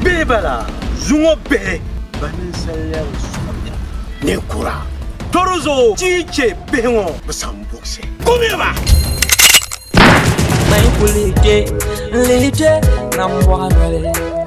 Bihi bala zuŋɔ bihi ba ninsal lɛbi sɔbda ninkura tɔri zuɣu ti chɛ bihi ŋɔ bi san buɣisi kumiya ba Mai kulike, lije, nam wagale.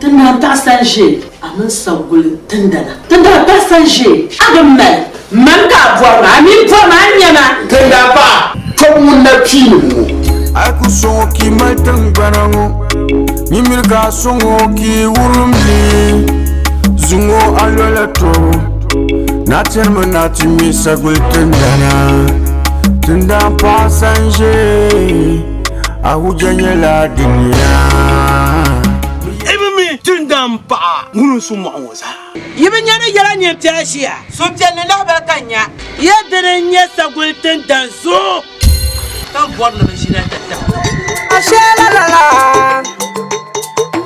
Ti daa taɣis a ʒe a mini saguli tindana. Ti daa taɣis a ʒe a bi mali. Mani ka a bɔri ma, a mi bɔri ma a nya ma. Ti daa pa tɔbu ŋun na pii ni ŋɔ. A yi ku sɔŋ o ka yi mali tiŋgbana ŋɔ, nyin miri ka a sɔŋ o ka yi wurim li, zuŋ o a lɔla tɔbu. Na tiri mi na ti ŋme saguli tindana, tindana paɣisa n-ʒe. Ahuja nyɛla dunia. Ibi mi Tindam paɣa ŋun su mɔɣu ŋɔ zaa. Yi bi nya ni yɛla nyin ti aʒia. Suhupiɛlli lahibali ka n nya. Ya dini n-nyɛ saguli tindan zuɣu. Ka m bɔri ni bɛ ʒina tatabo. Asheela lala.